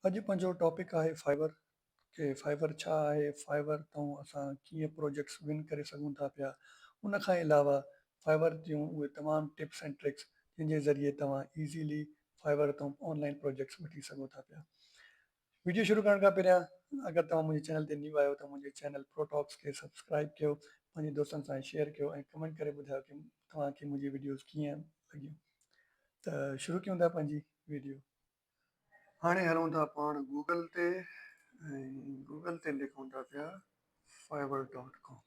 اڄ پنهنجو ٽاپڪ آهي فائبر ڪي فائبر ڇا آهي فائبر تئون اسان ڪيئن پروجيڪٽس ون ڪري سگهون ٿا پيا ان کان علاوه فائبر جون اهي تمام ٽپس اينڊ ٽرڪس جن جي ذريعي توهان ايزيلي فائبر تئون آن لائين پروجيڪٽس وٺي سگهو ٿا پيا ويڊيو شروع ڪرڻ کان پهريان اگر توهان منهنجي چينل تي نيو آهيو ته منهنجي چينل پرو ٽاڪس کي سبسڪرائب ڪيو پنهنجي دوستن سان شيئر ڪيو ۽ ڪمينٽ ڪري ٻڌايو ته توهان کي منهنجي ويڊيوز ڪيئن لڳيون ته شروع ڪيون ٿا پنهنجي ويڊيو هاڻي هلون ٿا پاڻ گوگل تي ۽ گوگل تي لکون ٿا پيا فائبر ڊاٽ ڪام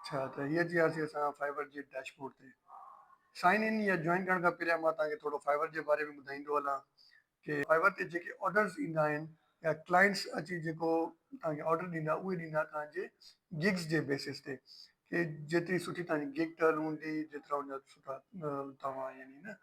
اچھا ته هي اچي وياسي اسان فائبر جي ڊيش بورڊ تي سائن ان يا جوائن ڪرڻ کان پهريان مان تهان کي ٿورو فائبر جي باري ۾ ٻڌائيندو هلان کي پوء ور تي جيڪي آرڊرز ايندا آهن يا ڪلائنٽس اچي جيڪو توهان کي آرڊر ڏيندا اهي ڏيندا توهان جي گگز جي بيسس تي ڪي جيتري سٺي توهان جي گگ ٽرن هوندي جيترا ان جا سٺا توهان يعني نه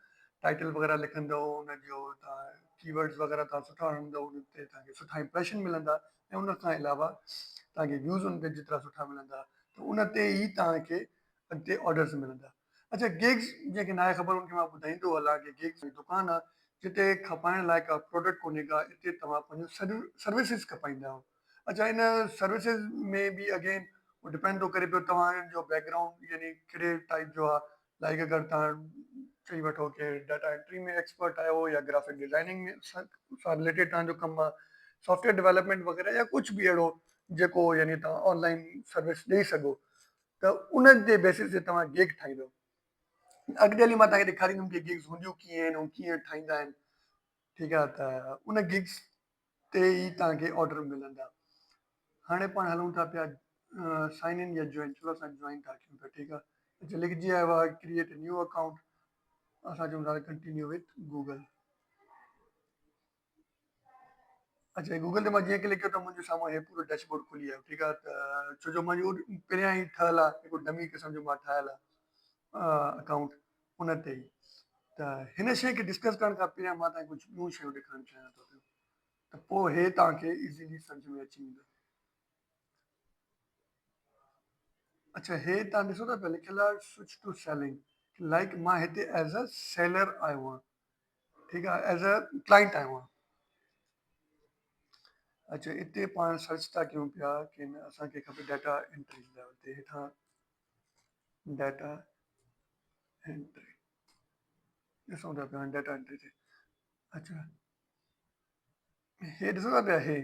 ٽائيٽل وغيره لکندو ان جو توهان ڪي ورڊز وغيره توهان سٺا هڻندو ان تي توهان کي سٺا امپريشن ملندا ۽ ان کان علاوه توهان کي ويوز ان تي جيترا سٺا ملندا ته ان تي ئي توهان کي اڳتي آرڊرز ملندا. اچا گيگز جنهن کي ناهي خبر ان کي مان ٻڌائيندو هلان ڪي گيگز هي دڪان آ جتي کپائڻ لاء ڪا پروڊڪٽ ڪونهي ڪا اتي توهان پنهنجون سڏيون سروسز کپائيندا آهيو اچا ان سروسز ۾ به اگين هو ڊپينڊ ٿو ڪري پيو توهان جو بيڪ گرائونڊ يعني ڪهڙي ٽائيپ جو آ لائيڪ اگر توهان چئي وٺو ڪي ڊاٽا انٽري ۾ ايڪسپرٽ آهيو يا گرافڪ ڊزائننگ ۾ سان رليٽيڊ توهان جو ڪم آ سافٽويئر ڊويلپمينٽ وغيره يا ڪجهه به اهڙو جيڪو يعني توهان آن لائين سروس ڏئي سگهو ته ان جي بيسس تي توهان گيگ ٺاهيندؤ. اڳتي هلي مان توهان کي ڏيکاريندم ته گيگز هونديون ڪيئن آهن ۽ ڪيئن ٺاهيندا آهن. ٺيڪ آهي ته ان گيگز تي ئي توهان کي آرڊر ملندا. هاڻي پاڻ هلون ٿا پيا سائن ان يا جوائن چلو اسان جوائن ٿا ڪيون پيا ٺيڪ آهي. هتي لکجي آيو آهي ڪريئيٽ اي نيو اڪائونٽ اسان چون ٿا ڪنٽينيو وٿ گوگل. اچا گوگل تي مان جيئن ڪلڪ ڪيو ته منهنجي سامهون هي پورو ڊيش بورڊ کلي ويو ٺيڪ آهي ته ڇو جو منهنجو پهريان ئي ٺهيل آهي هڪڙو ڊمي قسم جو مان ٺاهيل آهي اڪائونٽ ان تي ئي ته هن شي کي ڊسڪس ڪرڻ کان پهريان مان تانکي ڪجهه ٻيون شيون ڏيکارڻ چاهيان ٿو پيو ته پوء هي تانکي ايزيلي سمجهه ۾ اچي ويندو اچا هي تان ڏسو ٿا پيا لکيل آهي سوئچ ٽو سيلنگ لائڪ مان هتي ايز ا سيلر آيو آهيان ٺيڪ آ ايز اي ڪلائنٽ آهيون آن اچو اتي پاڻ سرچ ٿا ڪيون پيا ڪي نه اسانکي کپي ڊاٽا انٽري لاء اتي هيٺان ڊاٽا انٽري ڏسون ٿا پيا ڊاٽا انٽري تي اچو هي ڏسو ٿا پيا هي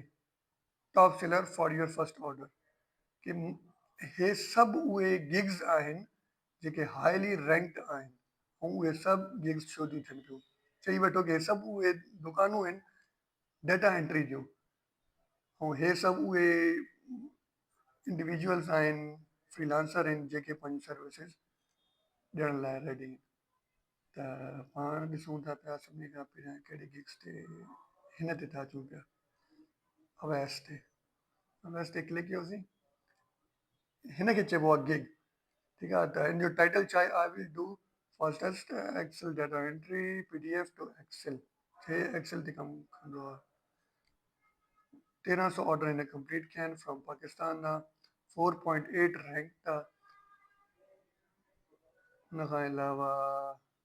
top seller for your first order ڪي هي سڀ اهي گگز آهن جيڪي هائلي رينڪڊ آهن ۽ اهي سڀ گيگز شو ٿيون ٿين پيون. چئي وٺو ته هي سڀ اهي دڪانون آهن ڊيٽا انٽري جون ۽ هي سڀ اهي انڊيويجوئلز آهن فريلانسر آهن جيڪي پنهنجون سروسز ڏيڻ لاء ريڊي آهن ته پاڻ ڏسون ٿا پيا سڀني کان پهريان ڪهڙي گيگز تي هن تي ٿا اچون پيا اويس تي اويس تي ڪلڪ ڪيوسين هن کي چئبو آهي گگ ٺيڪ آهي ته هن جو ٽائيٽل ڇا آهي I will do fastest Excel data entry P D F to Excel جي ايڪسل تي ڪم ڪندو آهي تيرهن سو آرڊر هن ڪمپليٽ ڪيا آهن فرام پاڪستان نا فور پوائنٽ ايٽ رينڪ ٿا ان کان علاوه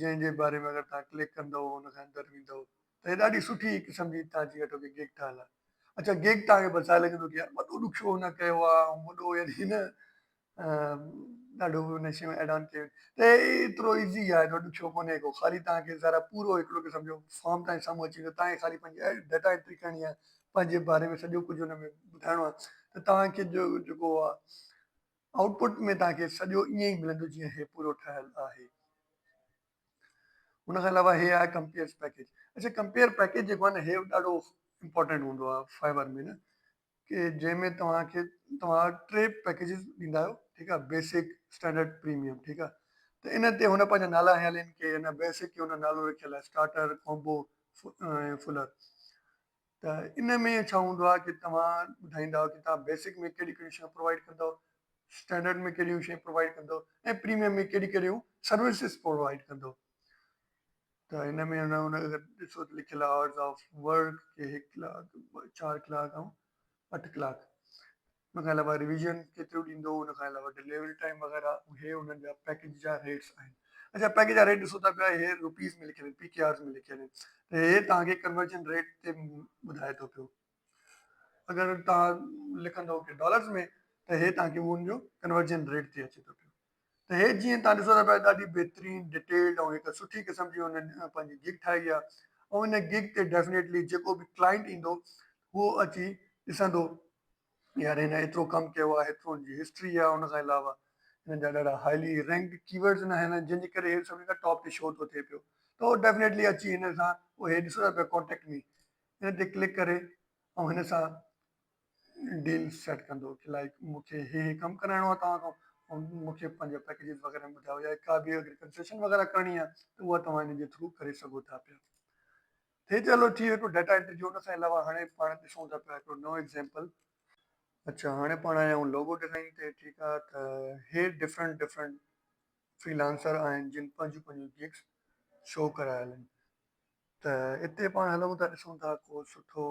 جنهن جي باري ۾ اگر توهان ڪلڪ ڪندؤ ان کان اندر ويندؤ ته هي ڏاڍي سٺي قسم جي هتان جي اٽو کي گيگ ٺاهيل آهي اڇا گيگ توهان کي ٻڌائي لڳندو ته يار وڏو ڏک ڇو هن ڪيو آهي ۽ وڏو يعني هن ڏاڍو هن شيون ايڊ آن ڪيون ته ايترو ايزي آهي ايترو ڏکيو ڪونهي ڪو خالي توهان کي ذرا پورو هڪڙو قسم جو فارم توهان سامهون اچي ويندو توهان کي خالي پنهنجي ڊيٽا انٽري ڪرڻي آهي پنهنجي باري ۾ سڄو ڪجهه ان ۾ ٻڌائڻو آهي ته توهان کي جو جيڪو آهي آئوٽ پٽ ۾ توهان کي سڄو ائين ئي ملندو جيئن هي پورو ٺهيل آهي. ان کان علاوه هي آهي ڪمپيئرز پيڪيج اڇا ڪمپيئر پيڪيج جيڪو آهي نه هي ڏاڍو امپورٽنٽ هوندو آهي فائبر ۾ نه ڪي جنهن ۾ توهان کي توهان ٽي پيڪيجز ڏيندا آهيو ٺيڪ آهي بيسڪ اسٽينڊرڊ پريميم ٺيڪ آهي ته ان تي هن پنهنجا نالا هيا لين ڪي هن بيسڪ کي هن نالو رکيل آهي اسٽارٽر ڪومبو ۽ فلر ته ان ۾ ڇا هوندو آهي ڪي توهان ٻڌائيندا ڪي توهان بيسڪ ۾ ڪهڙيون ڪهڙيون شيون پرووائيڊ ڪندو، اسٽينڊرڊ ۾ ڪهڙيون شيون پرووائيڊ ڪندو ۽ پريميم ۾ ڪهڙيون ڪهڙيون سروسز پرووائيڊ ڪندو ته ان ۾ ان ان اگر ڏسو ته لکيل آورز آف ورڪ ڪي هڪ ڪلاڪ چار ڪلاڪ ۽ اٺ ڪلاڪ ان کان علاوه ريويزن ڪيتريون ڏيندو ان کان علاوه ڊليوري ٽائيم وغيره اهي انهن جا پيڪيج جا ريٽس آهن اچا پيڪيج جا ريٽ ڏسو ته پيا اهي روپيز ۾ لکيل آهن پي ڪي آرز ۾ لکيل آهن ته اهي توهان کي ڪنورجن ريٽ تي ٻڌائي ٿو پيو اگر توهان لکندو ڊالرز ۾ ته اهي توهان کي ان جو ڪنورجن ريٽ تي اچي ٿو پيو ته هي جيئن توهان ڏسو ٿا پيا ڏاڍي بهترين ڊيٽيلڊ ۽ هڪ سٺي قسم جي هن پنهنجي گگ ٺاهي آهي ۽ ان گگ تي ڊيفنيٽلي جيڪو به ڪلائنٽ ايندو هو اچي ڏسندو يار هن ايترو ڪم ڪيو آهي ايترو ان جي هسٽري آهي ان کان علاوه هنن جا ڏاڍا هائلي رينڪڊ ڪي ورڊز نه آهن جن جي ڪري هي سڀني کان ٽاپ تي شو ٿو ٿئي پيو ته هو ڊيفنيٽلي اچي هن سان هي ڏسو ٿا پيا ڪانٽيڪٽ مي هن تي ڪلڪ ڪري ۽ هن سان ڊيل سيٽ ڪندو ڪي لائيڪ مون کي هي هي ڪم ڪرائڻو آهي توهان کان ۽ مون کي پنهنجا پيڪيجز وغيره ۾ ٻڌايو يا ڪا به اگر ڪنسيشن وغيره ڪرڻي آهي ته اها توهان هن جي ٿرو ڪري سگهو ٿا پيا ٿي ته هلو ٿي ويو هڪڙو ڊيٽا انٽري جو ان کان علاوه هاڻي پاڻ ڏسون ٿا پيا هڪڙو نئون ايگزامپل اچا هاڻي پاڻ آيا آهيون لوگو ڊيزائن تي ٺيڪ آهي ته هي ڊفرنٽ ڊفرنٽ فريلانسر آهن جن پنهنجون پنهنجون گيگس شو ڪرايل آهن ته اتي پاڻ هلون ٿا ڏسون ٿا ڪو سٺو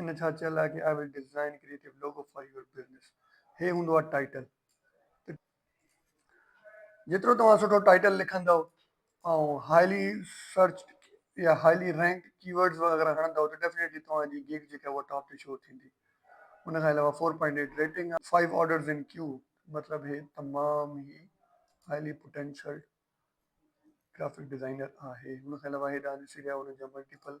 ان ڇا چيل آهي ڪي I will design a creative logo for your business هي هوندو آهي ٽائيٽل ته جيترو توهان سٺو ٽائيٽل لکندؤ ۽ هائلي سرچ يا هائلي رينڪ ڪي ورڊز وغيره هڻندؤ ته ڊيفينيٽلي توهان جي گيگ جيڪا اها ٽاپ تي شو ٿيندي ان کان علاوه 4.8 ريٽنگ آهي 5 آرڊرز ان ڪيو مطلب هي تمام هي هائلي پوٽينشل گرافڪ ڊيزائنر آهي ان کان علاوه هيڏانهن ڏسي رهيا ان جا ملٽيپل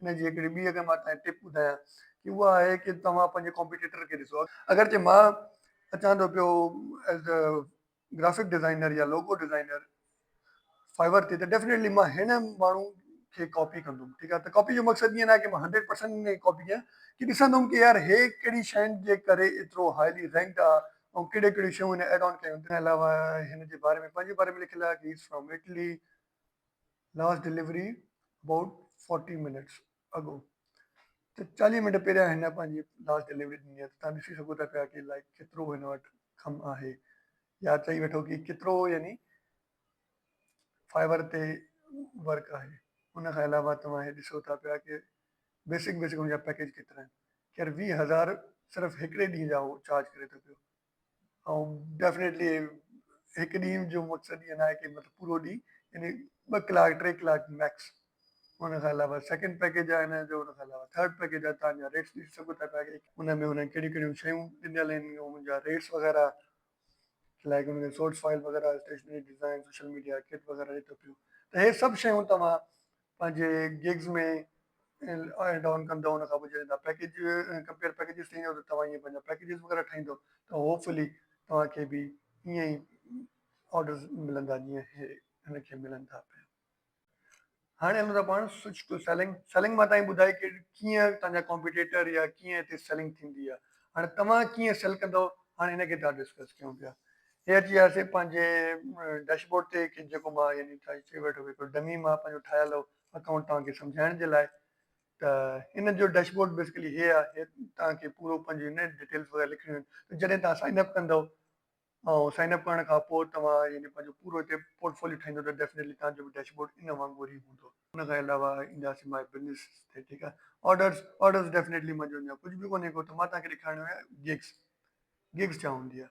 ان جي هڪڙي ٻي اگر مان تهانکي ٽپ ٻڌايان ته اها آهي ته توهان پنهنجي ڪمپيٽيٽر کي ڏسو اگرچه مان اچان ٿو پيو ايز اي گرافڪ ڊزائنر يا لوگو ڊزائنر فائبر تي ته ڊيفنيٽلي مان هن ماڻهو کي ڪاپي ڪندم ٺيڪ آهي ته ڪاپي جو مقصد ائين ناهي ته مان هنڊريڊ پرسنٽ ان کي ڪاپي ڪيان ڪي ڏسندم ته يار هي ڪهڙي شين جي ڪري ايترو هائلي رينڪڊ آهي ۽ ڪهڙيون ڪهڙيون شيون هن ايڊ آن ڪيون اٿن ان جي علاوه هن جي باري ۾ پنهنجي باري ۾ لکيل آهي ته هي is from Italy. Last delivery about forty minutes ago ته چاليهه منٽ پهريان هن پنهنجي لاسٽ ڊليوري ڏني آهي ته تهان ڏسي سگهو ٿا پيا ڪي لائڪ ڪيترو هن وٽ ڪم آهي يا چئي وٺو ڪي ڪيترو يعني فائبر تي ورڪ آهي ان کان علاوه توهان هي ڏسو ٿا پيا ڪي بيسڪ بيسڪ ان جا پيڪيج ڪيترا آهن خير ويهه هزار صرف هڪڙي ڏينهن جا هو چارج ڪري ٿو پيو ۽ ڊيفنيٽلي هڪ ڏينهن جو مقصد ايئن ناهي ڪي مطلب پورو ڏينهن يعني ٻه ڪلاڪ ٽي ڪلاڪ ميڪس ان کان علاوه سيڪنڊ پيڪيج آهي هن جو ان کان علاوه ٿرڊ پيڪيج آهي تان جا ريٽس ڏسي سگهو ٿا پيا ان ۾ هنن ڪهڙيون ڪهڙيون شيون ڏنل آهن ان جا ريٽس وغيره لائڪ ان جا سورس فائل وغيره stationery design social media kit وغيره ڏي ٿو پيو ته هي سڀ شيون توهان پنهنجي گگز ۾ ايڊ آن ڪندا ان کان پوء جڏهن توهان پيڪيج ڪمپيئر پيڪيجز ٺاهيندا ته توهان ائين پنهنجا پيڪيجز وغيره ٺاهيندو ته هوپ فلي توهان کي به ائين ئي آرڊرز ملندا جيئن هي هن کي ملن ٿا پيا. هاڻي هلون ٿا پاڻ سوئچ ٽو سيلنگ سيلنگ مان توهان ٻڌائي ڪي ڪيئن توهان جا ڪمپيٽيٽر يا ڪيئن هتي سيلنگ ٿيندي آهي هاڻي توهان ڪيئن سيل ڪندو هاڻي هن کي ٿا ڊسڪس ڪيون پيا هي اچي آهستي پنهنجي ڊيش بورڊ تي ڪي جيڪو مان يعني چئي ويٺو ڪي هڪڙو ڊمي مان پنهنجو ٺاهيل اڪائونٽ توهان کي سمجهائڻ جي لاء ته ان جو ڊيش بورڊ بيسڪلي هي آهي توهان کي پورو پنهنجو ان ڊيٽيلز وغيره لکڻيون آهن جڏهن توهان سائن اپ ڪندو ۽ سائن اپ ڪرڻ کان پوء توهان يعني پنهنجو پورو هتي پورٽ فوليو ٺاهيندو ته ڊيفنيٽلي توهان جو ڊيش بورڊ ان وانگر ئي هوندو ان کان علاوه اينداسين ماء بزنس تي ٺيڪ آهي آرڊرز آرڊرز ڊيفنيٽلي منهنجو اڃا ڪجهه به ڪونهي ڪو ته مان توهان کي ڏيکارڻو آهي گيگز گيگز ڇا هوندي آهي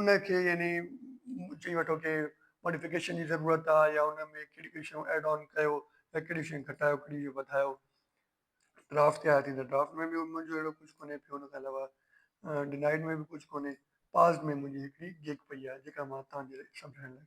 ان کي يعني چئي وٺو ڪي ماڊيفڪيشن جي ضرورت آ يا ان ۾ ڪهڙي ڪهڙي شيون ايڊ آن ڪيو يا ڪهڙي شيون گهٽايو ڪهڙي شيون وڌايو ڊرافٽ تي آيا ٿيندا ڊرافٽ ۾ به منهنجو اهڙو ڪجهه ڪونهي پيو ان کان علاوه ڊنائيڊ ۾ به ڪجهه ڪونهي پاس ۾ منهنجي هڪڙي گيگ پئي آ جيڪا مان توهان جي سمجهائڻ لاء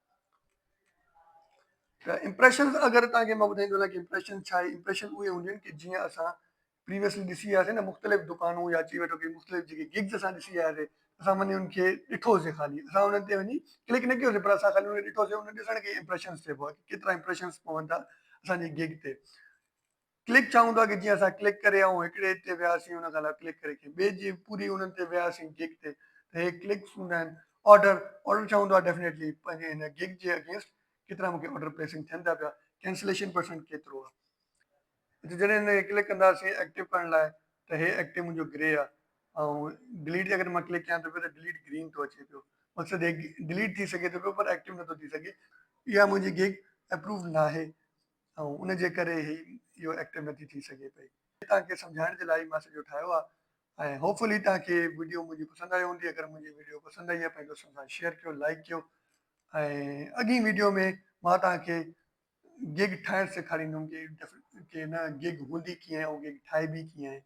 ته امپريشنز اگر تاں کي مان ٻڌائيندو وڃان ته امپريشن ڇا آهي امپريشن اهي هونديون آهن جيئن اسان پريويسلي ڏسي آيا سين ته مختلف دڪانون يا چئي وٺو ته مختلف جيڪي گگز اسان ڏسي آيا سين اسان وڃي ان کي ڏٺو سين خالي اسان انهن تي وڃي ڪلڪ نه ڪيو سين پر اسان خالي ان کي ڏٺو سين ان ڏسڻ کي امپريشنز چئبو آهي ڪيترا امپريشنز پوندا اسان جي گگ تي ڪلڪ ڇا هوندو آهي ڪي جيئن اسان ڪلڪ ڪري آئون هڪڙي تي وياسين ان کان علاوه ڪلڪ ڪري ڪي ٻئي جي پوري انهن تي وياسين گگ تي ته هي ڪلڪس هوندا آهن آرڊر آرڊر ڇا هوندو آهي ڊيفنيٽلي پنهنجي هن گگ جي اگينسٽ ڪيترا مونکي آرڊر پليسنگ ٿين ٿا پيا ڪينسليشن پرسنٽ ڪيترو آهي هتي جڏهن هن کي ڪلڪ ڪنداسين ايڪٽو ڪرڻ لاء ته هي ايڪٽو منهنجو گري آهي ۽ ڊليٽ اگر مان ڪلڪ ڪيان ٿو پيو ته ڊليٽ گرين ٿو اچي پيو مقصد هي ڊليٽ ٿي سگهي ٿو پيو پر ايڪٽو نٿو ٿي سگهي اها منهنجي گگ اپرووڊ ناهي ۽ ان جي ڪري ئي اهو ايڪٽر نه ٿي ٿي سگهي پئي. توهان کي سمجهائڻ جي لاء ئي مان سڄو ٺاهيو آهي ۽ هوپ فلي توهان کي وڊيو منهنجي پسند آئي هوندي. اگر منهنجي وڊيو پسند آئي آهي پنهنجي دوستن سان شيئر ڪيو لائيڪ ڪيو ۽ اڳين وڊيو ۾ مان توهان کي گيگ ٺاهڻ سيکاريندم ڪي نه گيگ هوندي ڪيئن ۽ گيگ ٺاهبي ڪيئن آهي.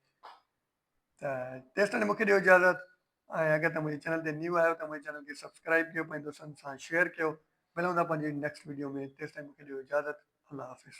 ته تيستائين مون کي ڏيو اجازت ۽ اگر تمهين منهنجي چينل تي نيو آهيو ته منهنجي چينل کي سبسڪرائب ڪيو پنهنجي دوستن سان شيئر ڪيو ملون ٿا پنهنجي نيڪسٽ ويڊيو ۾ تيستائين مون کي ڏيو اجازت الله حافظ.